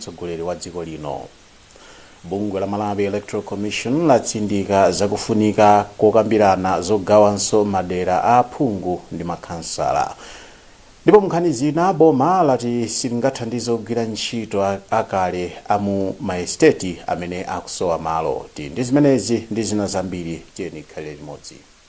mtsogoleri wa dziko lino. Bungwe la Malawi Electoral Commission latsindika zakufunika kokambirana zogawanso madera a aphungu ndi makhansala. Ndipo munkhani zina, boma lati silingathandize ogwira ntchito akale a mu maesiteti amene akusowa malo. Tili ndi zimenezi ndi zina zambiri, tiyeni tikhalire limodzi.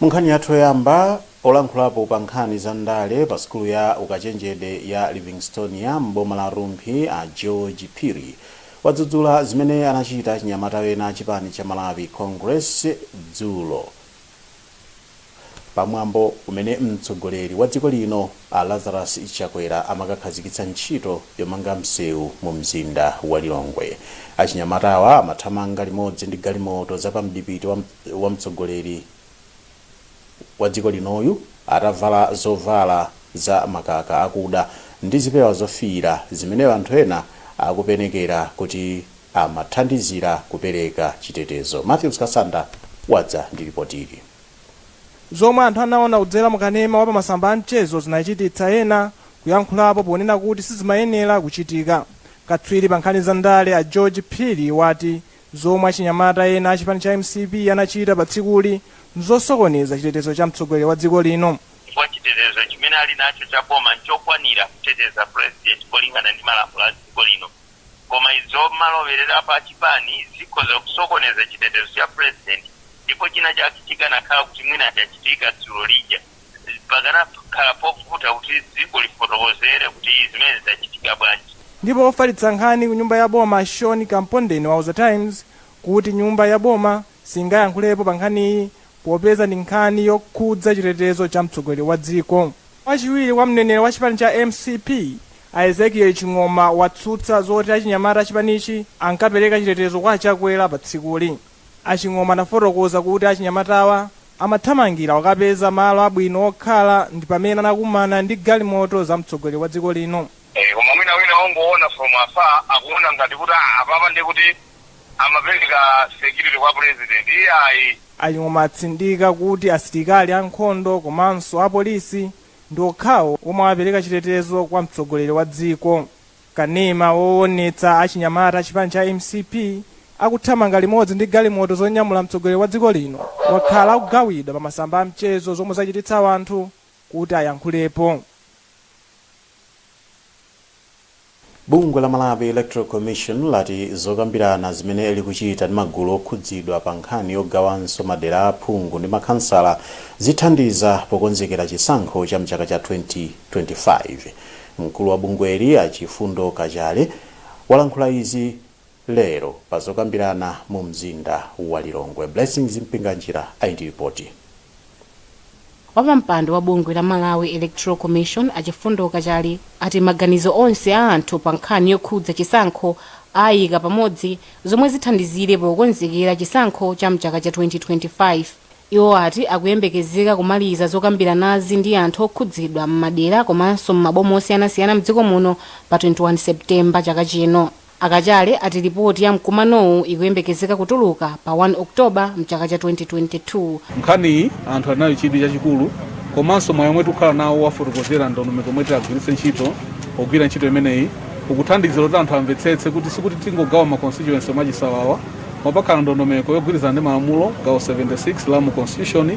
Munkhani yathu yoyamba, olankhulapo pa nkhani za ndale pa sukulu ya ukachenjede ya Livingstonia m'boma la Rumphi a George Phiri wadzudzula zimene anachita achinyamata ena a chipani cha Malawi Congress dzulo pa mwambo umene mtsogoleri wa dziko lino A Lazarus Chakwera amakakhazikitsa ntchito yomanga msewu mu mzinda wa Lilongwe. Achinyamatawa amathamanga limodzi ndi galimoto za pa mdipiti wa mtsogoleri wa dziko linoyu atavala zovala za makaka akuda ndi zipewa zofiira zimene anthu ena akupenekera kuti amathandizira kupereka chitetezo. Mathews Kasanda wadza ndi lipotili. Zomwe anthu anaona kudzera mu kanema wa pa masamba a mchezo zinachititsa ena kuyankhulapo ponena kuti sizimayenera kuchitika. Katswiri pa nkhani za ndale a George Phiri wati zomwe achinyamata ena a chipani cha mcp anachita pa tsikuli n'zosokoneza chitetezo cha mtsogoleri wa dziko lino. chifukwa chitetezo chimene ali nacho cha boma n'chokwanira kuteteza Purezidenti kulingana ndi malamulo a dziko lino. Koma izo zomalowererapo achipani zikhoza kusokoneza chitetezo cha president ndipo chinachake chikanakhala kuti mwina chachitika dzulo lija pakanakhala povuta kuti dziko lifotokozere kuti zimenezi zachitika bwanji. Ndipo wofalitsa nkhani ku nyumba ya boma Sean Kampondeni wauza Times kuti nyumba ya boma, singayankhulepo pa nkhaniyi popeza ndi nkhani yokhudza chitetezo cha mtsogoleri wa dziko. Wachiwiri kwa mneneri wa chipani cha mcp, a Ezekiel Ching'oma watsutsa zoti achinyamata achipanichi ankapereka chitetezo kwa a Chakwera pa tsikuli. A Ching'oma anafotokoza kuti achinyamatawa amathamangira kukapeza malo abwino okhala ndi pamene anakumana ndi galimoto za mtsogoleri wa dziko lino. Koma mwina wina ongoona from afar akuona ngati kuti apapa ndekuti amapereka security kwa president iyayi. A Ching'oma atsindika kuti asilikali a nkhondo komanso apolisi ndi okhawo omwe amapereka chitetezo kwa mtsogoleri wa dziko. Kanema woonetsa achinyamata a chipani cha mcp akuthamanga limodzi ndi galimoto zonyamula mtsogoleri wa dziko lino wakhala akugawidwa pa masamba a mchezo zomwe zachititsa anthu kuti ayankhulepo. Bungwe la Malawi Electoral Commission lati zokambirana zimene likuchita ndi magulu okhudzidwa pa nkhani yogawanso madera a aphungu ndi makhansala zithandiza pokonzekera chisankho cha mchaka cha 2025. Mkulu wa bungweli a Chifundo Kachale walankhula izi. lero pa zokambirana mu mzinda wa Lilongwe. Blessings Mpinganjira ali ndi lipoti. Wapampando wa bungwe la Malawi Electoral Commission a Chifundo Kachale ati maganizo onse a anthu pa nkhani yokhudza chisankho aayika pamodzi zomwe zithandizire pokonzekera chisankho cha mchaka cha 2025. Iwo ati akuyembekezeka kumaliza zokambiranazi ndi anthu okhudzidwa m'madera komanso m'maboma osiyanasiyana mdziko muno pa 21 September chaka chino. A Kachale ati lipoti ya mkumanowu ikuyembekezeka kutuluka pa 1 October mchaka cha 2022. Nkhaniyi anthu ali nayo chidwi chachikulu komanso mwayi omwe tikukhala nawo wowafotokozera ndondomeko yomwe titagwiritse ntchito pogwira ntchito imeneyi ukuthandizira kuti anthu amvetsetse kuti sikuti tingogawa ma constituency mwachisawawa koma pakhala ndondomeko yogwirizana ndi malamulo gawo 76 la mu constitution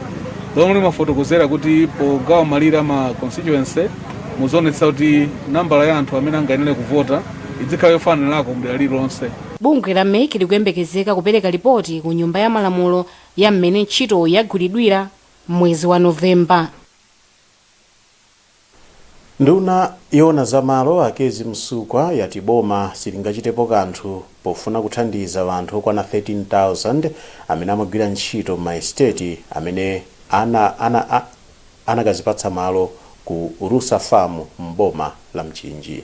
lomwe limafotokozera kuti pogawa malire a ma constituency muzionetsetsa kuti nambala ya anthu amene angayenere kuvota idzikhala yofananako mdera lililonse. Bungwe la MEC likuyembekezeka kupereka lipoti ku nyumba ya malamulo ya mmene ntchito yagwiridwira mmwezi wa November. Nduna yoona za malo, a Kezzie Msukwa, yati boma silingachitepo kanthu pofuna kuthandiza anthu okwana 13,000 amene amagwira ntchito m'maesiteti amene ana, ana, a, anakazipatsa malo ku Rusa Farm m'boma la Mchinji.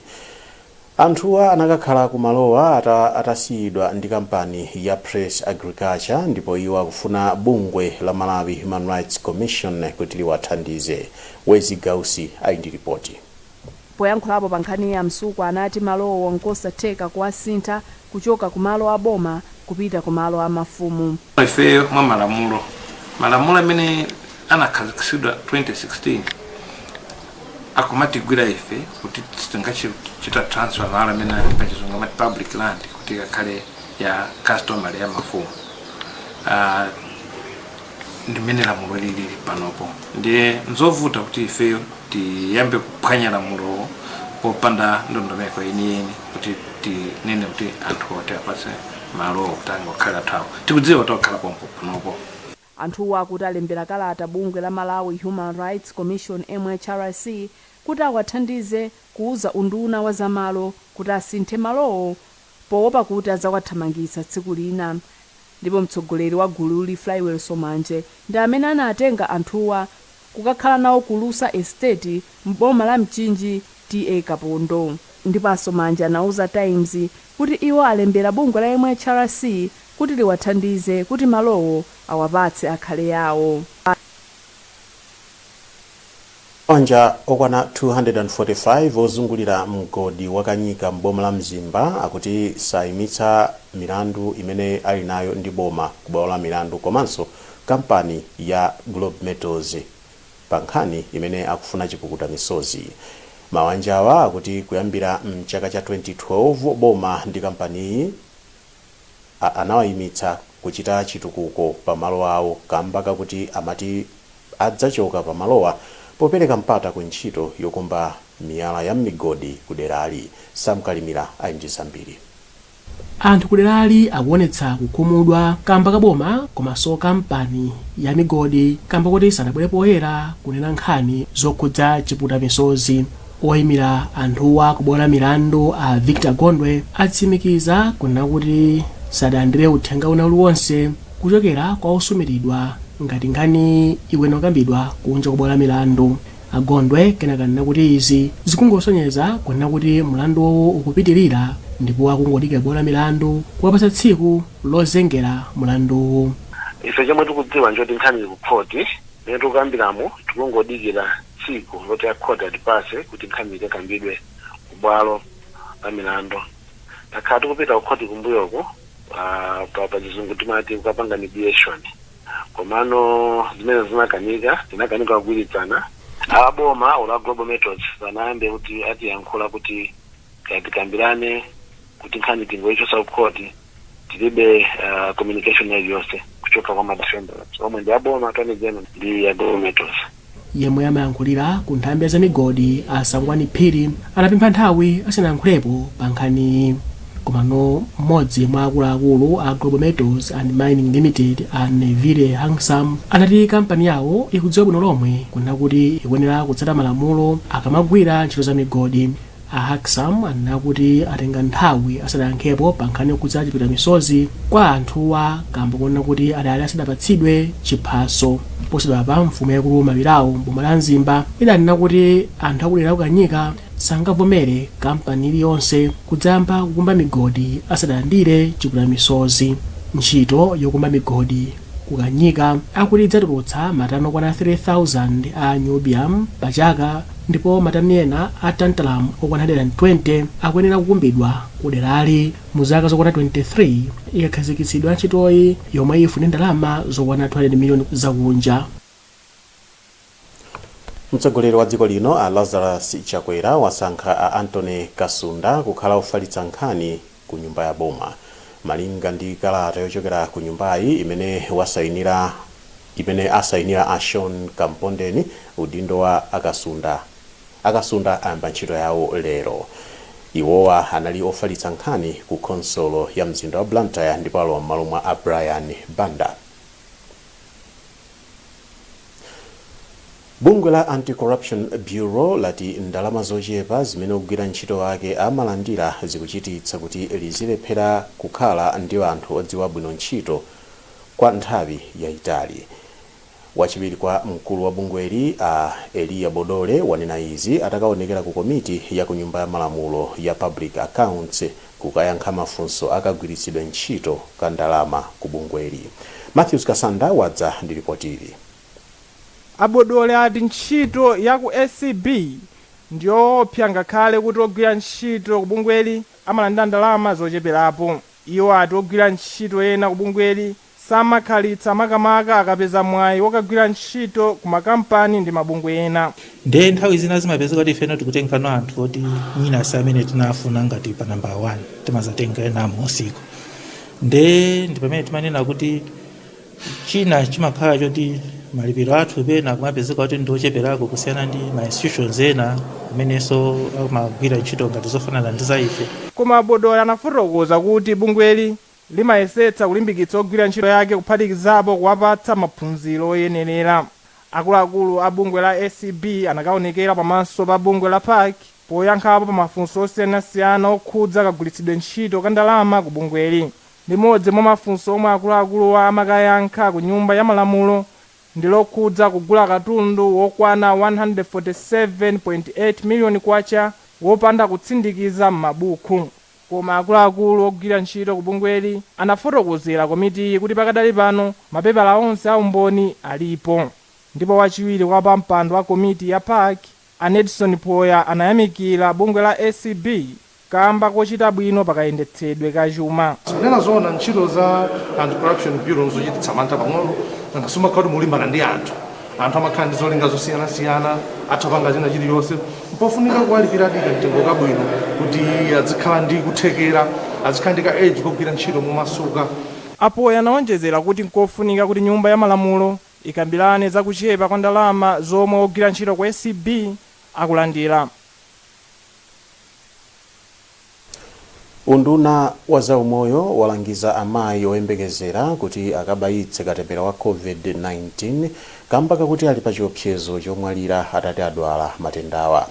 Anthuwa anakakhala ku malowa atasiyidwa ndi kampani ya Press Agriculture ndipo iwo akufuna bungwe la Malawi Human Rights Commission kuti liwathandize. Wezzie Gausi ali ndi lipoti. Poyankhulapo pa nkhaniyi a Msukwa anati malowo nkosatheka kuwasintha kuchoka ku malo a boma kupita ku malo a mafumu. Ifeyo mwa malamulo, malamulo amene anakhazikitsidwa 2016 akumatigwira ife kuti sitingathe kuchita transfer malo amene ali pa chizungu amati public land kuti ikakhale ya customary ya mafumu. ndi mmene lamulo lilili panopo ndiye nzovuta kuti ifeyo tiyambe kuphwanya lamulowo popanda ndondomeko yeniyeni kuti tinene kuti anthu oti apatse malowo kuti angokhala athu awo tikudziwa kuti akukhala pompo panopo Anthuwa akuti alembera kalata bungwe la Malawi Human Rights Commission, MHRC, kuti awathandize kuuza unduna wa zamalo kuti asinthe malowo poopa kuti adzawathamangitsa tsiku lina ndipo mtsogoleri wa gululi Flywell Somanje ndi amene anatenga anthuwa kukakhala nawo ku Lusa Estate m'boma la Mchinji TA Kapondo ndipo a Somanje anauza Times kuti iwo alembera bungwe la MHRC kuti liwathandize kuti malowo awapatse akhale awo. Mabanja okwana 245 ozungulira mgodi wa Kanyika m'boma la Mzimba akuti saimitsa milandu imene ali nayo ndi boma ku bwalo la milandu komanso kampani ya Globe Metals pa nkhani imene akufuna chipukuta misozi. Mabanjawa akuti kuyambira m'chaka cha 2012 boma ndi kampaniyi. a anawaimitsa kuchita chitukuko pa malo awo kamba kakuti amati adzachoka pa malowa popereka mpata ku ntchito yokumba miyala ya m'migodi ku derali. Sam Kalimira ali ndi zambiri. Anthu ku derali akuonetsa kukhumudwa kamba ka boma komanso kampani ya migodi kamba koti sanabwere poyera kunena nkhani zokhudza chiputa misozi. Oyimira anthuwa ku bwalo la milandu a Victor Gondwe atsimikiza kunena kuti sadalandire uthenga wina uliwonse kuchokera kwa osumiridwa ngati nkhaniyi ikuyenera kukambidwa kunja kwa bwalo la milandu. A Gondwe kenaka anena kuti izi zikungosonyeza kunena kuti mlanduwu ukupitilira ndipo akungodikira bwalo la milandu kuwapatsa tsiku lozengera mlanduwu. Ife chomwe tikudziwa nchoti nkhani ili ku khoti. Mmene tikukambilamu tikungodikila tsiku loti a court atipatse kuti nkhani ikakambidwe ku bwalo la milando. Takhala tikupita ku court kumbuyoku pa pa chizungu timati kukapanga mediation komano zimenezo zinakanika, tinakanika kugwilizana. A boma olo a Globe Metals sanayambe kuti atiyankhula kuti kaya tikambilane kuti nkhani tingoichotsa ku court. tilibe uh, communication iliyonse kuchoka kwa ma defendants omwe ndi aboma attorney general ndi a Globe Metals yemwe amayankhulira ku nthambi ya zamigodi a sangwani phiri anapempha nthawi asanayankhulepo pa nkhaniyi komano mmodzi mwa akuluakulu a Globe Metals and mining limited a neville Huxham anati kampani yawo ikudziwa bwino lomwe kunena kuti ikuyenera kutsata malamulo akamagwira ntchito za migodi A Huxham anena kuti atenga nthawi asadayankhepo pa nkhani yokhudza chiputa misozi kwa anthuwa kamba konena kuti adali asadapatsidwe chiphaso. Posachedwapa mfumu yaikulu Mabilabo m'boma la Mzimba idanena kuti anthu akudera la ku Kanyika sangavomere kampani ili yonse kudzayamba kukumba migodi asadalandire chiputa misozi. Ntchito yokumba migodi ku Kanyika akuti idzatulutsa matani okwana 3000 a niobium pa chaka. ndipo matani ena a tantalum okwana 120 akuyenera kukumbidwa kuderali mu zaka zokwana 23 ikakhazikitsidwa ntchitoyi yomwe ifune ndalama zokwana 200 miliyoni zakunja. Mtsogoleri wa dziko lino a Lazarus Chakwera wasankha a Anthony Kasunda kukhala ofalitsa nkhani ku nyumba ya boma. Malinga ndi kalata yochokera ku nyumbayi imene asainira a Sean Kampondeni udindo wa a Kasunda ayamba ntchito yawo lero. Iwowa anali ofalitsa nkhani ku khonsolo ya mzinda wa Blantyre ndipo alowa m'malo mwa a Brian Banda. Bungwe la Anti-Corruption Bureau lati ndalama zochepa zimene ogwira ntchito ake amalandira zikuchititsa kuti lizilephera kukhala ndi anthu odziwa bwino ntchito kwa nthawi yaitali. Wachiwiri kwa mkulu wa bungweli a Eliya Bodole wanena izi atakaonekera ku komiti ya ku Nyumba ya Malamulo ya Public Accounts, kukayankha mafunso a kagwiritsidwe ntchito ka ndalama ku bungweli. Mathews Kasanda wadza ndi lipoti ili. A Bodole ati ntchito ya ku ACB ndiyoopsa ngakhale kuti ogwira ntchito ku bungweli amalandira ndalama zocheperapo. Iwo ati ogwira ntchito ena ku bungweli samakhalitsa makamaka akapeza mwayi wokagwira ntchito ku makampani ndi mabungwe ena. Nde nthawi zina zimapezeka kuti ifeno tikutengano anthu oti mwina si amene tinafuna ngati pa namba 1 timazatenga ena amunsiko nde ndi pamene timanena kuti china chimakhala choti malipiro athu pena kumapezeka kuti ndi ocheperako kusiyana ndi ma institutions ena amenenso amagwira ntchito ngati zofanana ndi za ife. Koma a Bodole anafotokoza kuti bungweli limayesetsa kulimbikitsa ogwira ntchito yake kuphatikizapo kuwapatsa maphunziro oyenerera. Akuluakulu a bungwe la ACB anakaonekera pamaso pa bungwe la PAC poyankhapo pa mafunso osiyanasiyana okhudza kagwiritsidwe ntchito ka ndalama ku bungweli. Limodzi mwa mafunso omwe akuluakuluwa amakayankha ku nyumba ya malamulo ndi lokhudza kugula katundu wokwana K147.8 million wopanda kutsindikiza m'mabuku. Koma akuluakulu ogwira ntchito ku bungweli anafotokozera komitiyi kuti pakadali pano mapepala onse a umboni alipo. Ndipo wachiwiri kwa wapampando wa komiti ya PAC a Nedson Poya anayamikira bungwe la ACB kamba kochita bwino pa kayendetsedwe ka chuma. Kunena zoona ntchito za Anti-Corruption Bureau nzochititsa mantha pang'ono, nanga simumakhala kuti mukulimbana ndi anthu. anthu amakhala ndi zolinga zosiyanasiyana atha panga china chilichonse n'pofunika kuwalipirako kamtengo kabwino kuti azikhala ndi kuthekera azikhala ndi ka edge kogwira ntchito momasuka A Poya anawonjezera kuti nkofunika kuti Nyumba ya Malamulo ikambirane za kuchepa kwa ndalama zomwe ogwira ntchito ku ACB akulandira. Unduna wa zaumoyo walangiza amayi oyembekezera kuti akabayitse katemera wa Covid-19 kamba kakuti ali pa chiopsezo chomwalira atati adwala matendawa.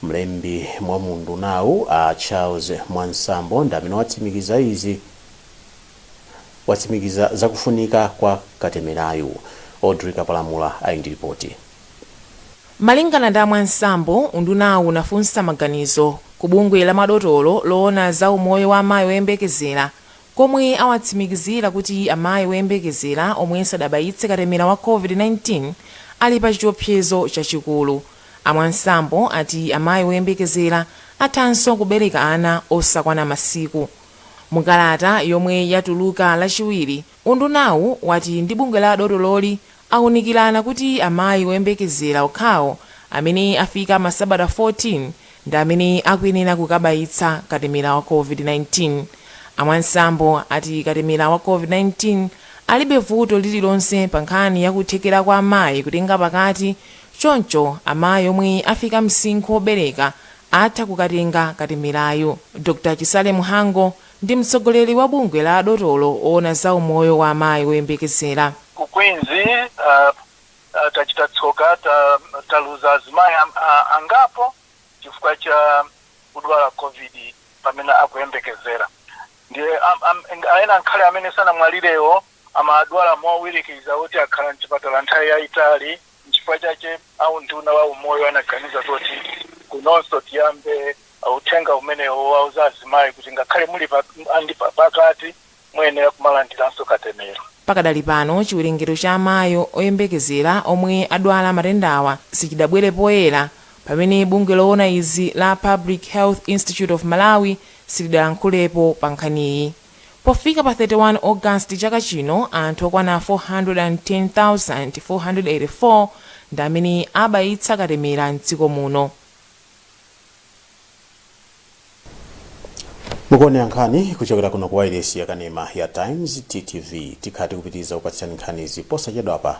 Mlembi mwa mu undunawu a Charles Mwansambo ndi amene watsimikiza zakufunika kwa katemerayu. Audrey Kapalamula ali ndi lipoti. Malingana ndi a Mwansambo, undunawu unafunsa maganizo ku bungwe la madotolo loona za umoyo wa amayi oyembekezera komwe awatsimikizira kuti amayi oyembekezera omwe sadabayitse katemera wa Covid-19 ali pa chiopsezo chachikulu. A Mwansambo ati amayi oyembekezera athanso kubereka ana osakwana masiku. Mu kalata yomwe yatuluka lachiwiri, undunawu wati ndi bungwe la adotololi Aunikirana kuti amayi oyembekezera okhawo amene afika masabata 14 ndi amene akuyenera kukabayitsa katemera wa COVID-19. A Mwansambo ati katemera wa COVID-19 alibe vuto lililonse pa nkhani ya kuthekera kwa amayi kutenga pakati, choncho amayi omwe afika msinkhu obereka atha kukatenga katemerayu. Dr. Chisale Mhango Ndi mtsogoleri wa bungwe la madotolo oona za umoyo wa amayi oyembekezera. Ku Queens, tachita tsoka, taluza azimayi angapo chifukwa cha kudwala Covid pamene akuyembekezera. Ndiye ena ngakhale amene sanamwalirewo amadwala mowirikiza moti akhala m'chipatala nthawi yayitali. N'chifukwa chake a Unduna wa Umoyo anaganiza zoti kunonso tiyambe uthenga umenewu wowauza azimayi kuti ngakhale muli ndi pakati, muyenera kumalandiranso katemera. Pakadali pano, chiwerengero cha amayi oyembekezera omwe adwala matendawa sichidabwere poyera pamene bungwe loona izi la Public Health Institute of Malawi silidalankhulepo pa nkhaniyi. Pofika pa 31 August chaka chino, anthu okwana 410,484 ndi amene abayitsa katemera m'dziko muno. mukuonera nkhani kuchokera kuno ku wailesi yakanema ya Times TTV tikhala tikupitiriza kukupatsirani nkhanizi posachedwapa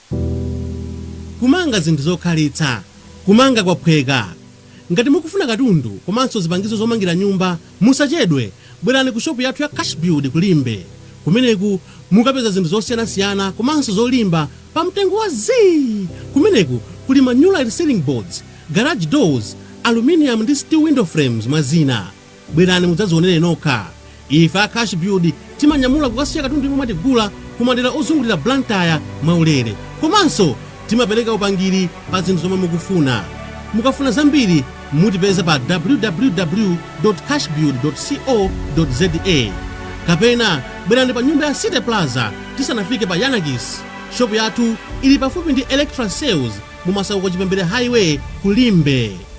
Kumanga zinthu zokhalitsa, Kumanga kwaphweka. Ngati mukufuna katundu komanso zipangizo zomangira nyumba, musachedwe, bwerani ku shopu yathu ya Cashbuild ku Limbe. Kumeneku mukapeza zinthu zosiyanasiyana komanso zolimba pa mtengo wa zii! Kumeneku kuli ma Nulite Ceiling Boards, Garage Doors, Aluminium ndi Steel Window Frames mwa zina. Bwerani mudzazionere nokha. Ife a Cash Build timanyamula kukasiya katundu yemwe mwatigula ku madera ozungulira Blantyre mwaulere. Komanso timapereka upangiri pa zinthu zomwe mukufuna. Mukafuna zambiri mutipeza pa www.cashbuild.co.za kapena bwerani pa nyumba ya City Plaza tisanafike pa Yiannakis. Shopu yathu ili pafupi ndi Electra Sales mu Masauko Chipembere Highway ku Limbe.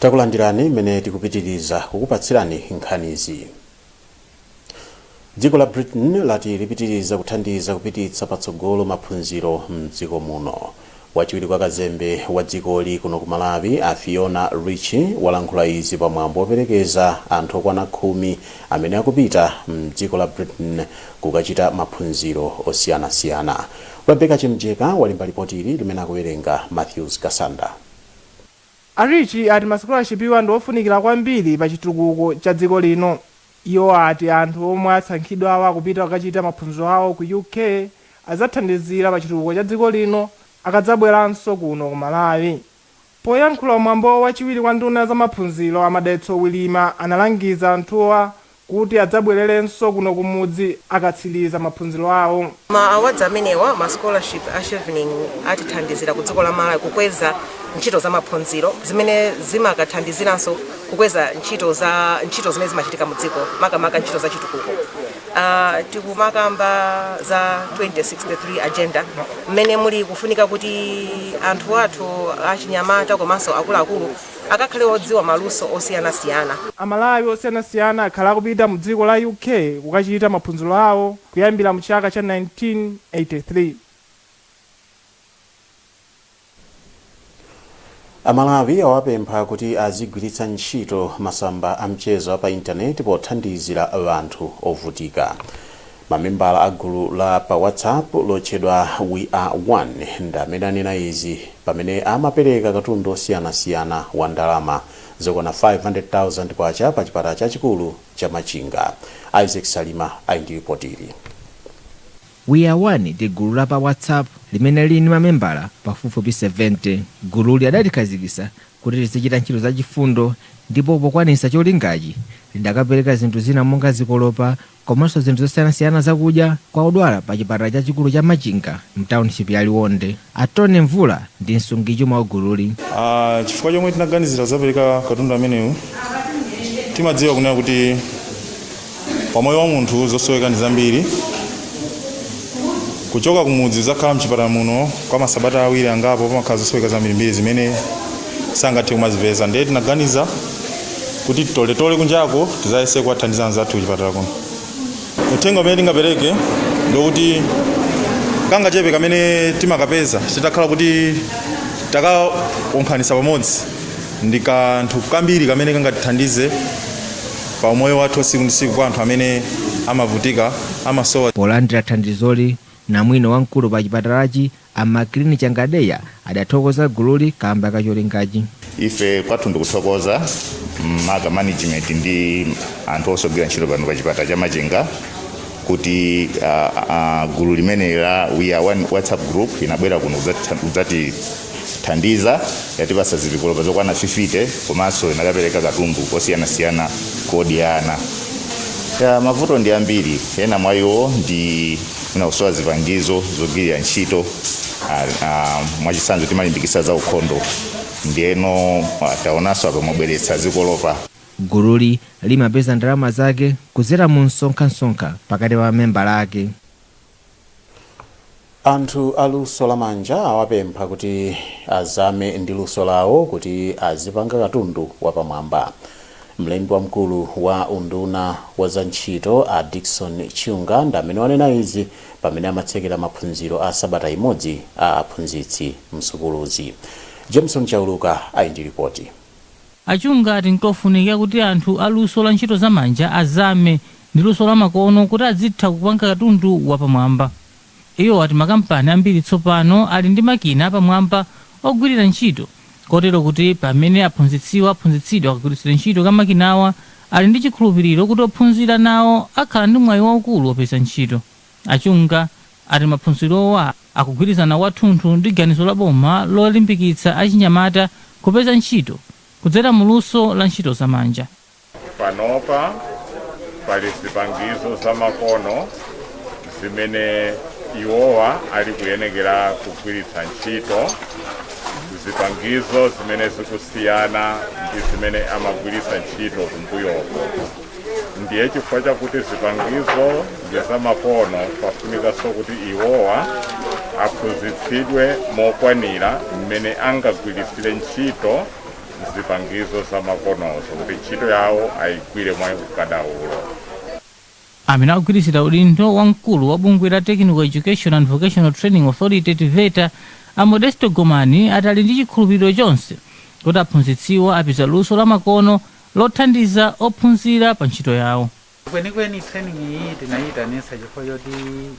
takulandirani mmene tikupitiriza kukupatsirani nkhanizi dziko la britain lati lipitiriza kuthandiza kupititsa patsogolo maphunziro mdziko muno wachiwiri kwa kazembe wa dzikoli kuno ku malawi a fiona ritchie walankhula izi pamwambo woperekeza anthu okwana khumi amene akupita mdziko la britain kukachita maphunziro osiyanasiyana. Rebecca Chimjeka walemba lipoti ili limene akuwerenga Matthews Kasanda. A Ritchie ati masikolashipiwa ndi ofunikila kwambiri pa chitukuko cha dziko lino. Iwo ati anthu omwe asankhidwawa kupita kukachita maphunziro awo ku UK adzathandizila pa chitukuko cha dziko lino akadzabwelanso kuno ku Malawi. Poyankhula mwambo wachiwiri kwa nduna za maphunziro a Madalitso Wirima analangiza anthuwa kuti adzabwererenso kuno kumudzi akatsiliza maphunziro awo. Ma awards amenewa, ma scholarship a Chevening atithandizira ku dziko la Malawi kukweza ntchito za maphunziro zimene zimakathandiziranso kukweza ntchito zimene zimachitika mu dziko makamaka ntchito za chitukuko. Tikumakamba za 2063 agenda mmene muli kufunika kuti anthu athu achinyamata komanso akuluakulu akakhale odziwa maluso osiyanasiyana Amalawi osiyanasiyana akhala akupita mu dziko la UK kukachita maphunziro awo kuyambira mu chaka cha 1983. amalawi awapempha kuti azigwiritsa ntchito masamba a mchezo a pa intaneti pothandizira anthu ovutika mamembala a gulu la pa whatsapp lotchedwa we are one ndi amene anena izi pamene amapereka katundu osiyanasiyana wa ndalama zokwana 500,000 kwacha pa chipatala chachikulu cha machinga isaac salima ali ndi ripotili We Are One ndi gulu la pa WhatsApp limene lili ndi mamembala pafupifupi 70. Gululi adalikhazikitsa kuti lizichita ntchito zachifundo ndipo pokwaniritsa cholingachi, lidakapereka zinthu zina monga zikolopa komanso zinthu zosiyanasiyana zakudya kwa odwala pachipatala chachikulu cha Machinga m'taunichipi ya Liwonde. A Tony Mvula ndi msungichuma wa gululi. Chifukwa chomwe tinaganizira kudzapereka katundu ameneyu, timadziwa kunena kuti pamoyo wa munthu zosoweka ndi zambiri. Kuchoka kumudzi kudzakhala m'chipatala muno kwa masabata awiri angapo pamakhala zosoweka zambirimbiri zimene sangathe kumazipeza. Ndiye tinaganiza kuti titoletole kunjako tidzayese kuwathandiza anzathu kuchipatala kuno. uthenga umene tingapereke ndi wokuti kangachepe kamene timakapeza titakhala kuti takasonkhanitsa pamodzi ndi kanthu kambiri kamene kangatithandize pa umoyo wathu wasiku ndi siku kwa anthu amene amavutika amasowa. Polandira thandizoli, namwino wamkulu pa chipatalachi A Maclean Changadeya adathokoza gululi kaamba ka cholingachi. Ife kwathu ndikuthokoza maka management ndi anthu onse ogwira ntchito pano pa chipatala cha Machinga kuti gulu limeneli la We Are One WhatsApp Group linabwera kuno kudzatithandiza. Yatipatsa zikolopa zokwana 50 komanso linakapereka katundu kosiyanasiyana kodya ana. Mavuto ndi ambiri, ena mwa iwo ndi. mwina kusowa zipangizo zogwirira ntchito ah, ah, mwachitsanzo timalimbikitsa za ukhondo ndiyeno ah, taonanso apa mwabweretsa zikolopa Gululi limapeza ndalama zake kudzera mu msonkhasonkha pakati pa mamembala ake. Anthu a luso la manja awapempha kuti azame ndi luso lawo kuti azipanga katundu wapamwamba. Mlembi wamkulu wa unduna wa za ntchito a Dickson Chunga ndi amene anena izi pamene amatsekera maphunziro a sabata imodzi a aphunzitsi msukuluzi. Jameson Chauluka ali ndi lipoti. A Chunga ati nkofunika kuti anthu a luso la ntchito za manja azame ndi luso la makono kuti azitha kupanga katundu wapamwamba. Iwo ati makampani ambiri tsopano ali ndi makina apamwamba ogwirira ntchito kotero kuti pamene aphunzitsiwa aphunzitsidwa kagwiritsidwe ntchito ka makinawa ali ndi chikhulupiriro kuti ophunzira nawo akhala ndi mwayi waukulu opeza ntchito. A Chunga ati maphunzirowa akugwirizana kwathunthu ndi ganizo la boma lolimbikitsa achinyamata kupeza ntchito kudzera mu luso la ntchito za manja. Panopa pali zipangizo zamakono zimene iwowa ali kuyenekera kugwiritsa ntchito, zipangizo zimene zikusiyana ndi zimene amagwiritsa ntchito kumbuyoko. Ndiye chifukwa chakuti zipangizo ndi zamakono, pafunikanso kuti iwowa aphunzitsidwe mokwanira mmene angagwiritsire ntchito. zipangizo zamakonozo kuti ntchito yawo ayigwire mwa ukadaulo. Amene akugwirizira udindo wa mkulu wa bungwe la Technical Education and Vocational Training Authority, TVETA, a Modesto Gomani ati ali ndi chikhulupiriro chonse kuti aphunzitsiwa apeza luso lamakono lothandiza ophunzira pa ntchito yawo. Kwenikweni training iyi tinayitanisa chifukwa choti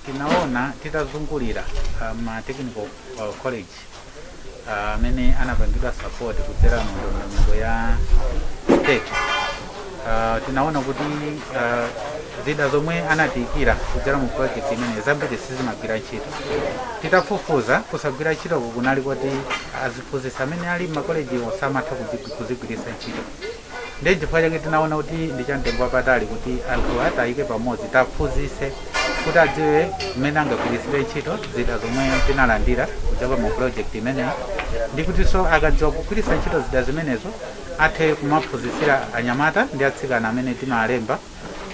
tinaona titazungulira ma technical college amene anapangidwa support kudzera mu ndondomeko ya STEP uh, tinaona kuti uh, zida zomwe anatiikira kudzera mu project imeneyi zambiri sizimagwira ntchito titafufuza kusagwira ntchito kunali kuti aziphunzitsi amene ali m'makolejiwo samatha kuzigwiritsa ntchito ndiye chifukwa chake tinaona kuti ndi cha mtengo wapatali kuti anthuwa tiwayike pamodzi tiwaphunzitse kuti adziwe mmene angagwiritsire ntchito zida zomwe tinalandira kuchoka mu project imeneyi ndi kutinso akadziwa kugwiritsa ntchito zida zimenezo athe kumaphunzitsira anyamata ndi atsikana amene timalemba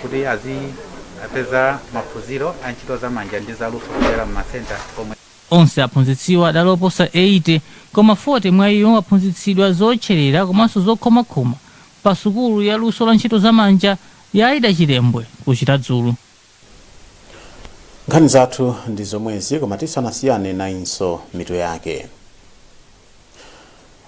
kuti azipeza maphunziro a ntchito za manja ndi za luso kudzera mu masenta omwe Onse aphunzitsiwa adali oposa 80 koma 40 mwa iwo aphunzitsidwa zootcherera komanso zokhomakhoma pa sukulu ya luso la ntchito za manja ya Aida Chilembwe ku Chiradzulu. Nkhani zathu ndi zomwezi koma tisanasiyane nayinso mitu yake.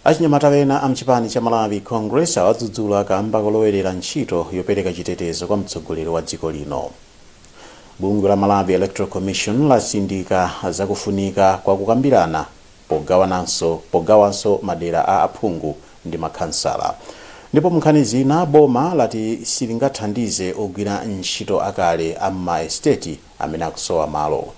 achinyamata wena a mchipani cha malawi congress awadzudzula kamba kolowerera ntchito yopereka chitetezo kwa mtsogoleri wa dziko lino bungwe la malawi electoral commission latsindika zakufunika kwa kukambirana pogawanso madera a aphungu ndi makhansala ndipo munkhani zina boma lati silingathandize ogwira ntchito akale a m'maesiteti amene akusowa malo.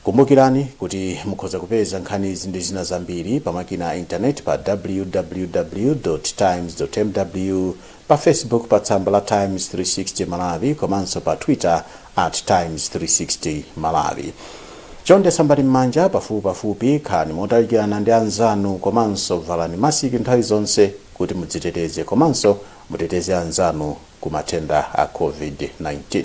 Kumbukirani kuti mukhoza kupeza nkhanizi ndi zina zambiri pa makina a intaneti pa www. Times. mw, pa Facebook pa tsamba la Times 360 Malawi komanso pa Twitter at Times 360 Malawi. Chonde sambani m'manja pafupipafupi, khalani motalikirana ndi anzanu komanso valani masiki nthawi zonse kuti mudziteteze komanso muteteze anzanu ku matenda a Covid-19.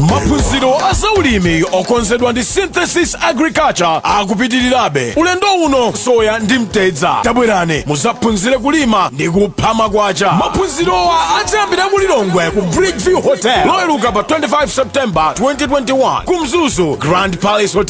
maphunziro a zaulimi okonzedwa ndi synthesis agriculture akupitirirabe ulendo uno soya ndi mtedza tabwerani muzaphunzire kulima ndi kupha makwacha maphunzirowa adzayambira ku lilongwe ku bridgeview hotel loweruka pa 25 september 2021 ku mzuzu grand palace hotel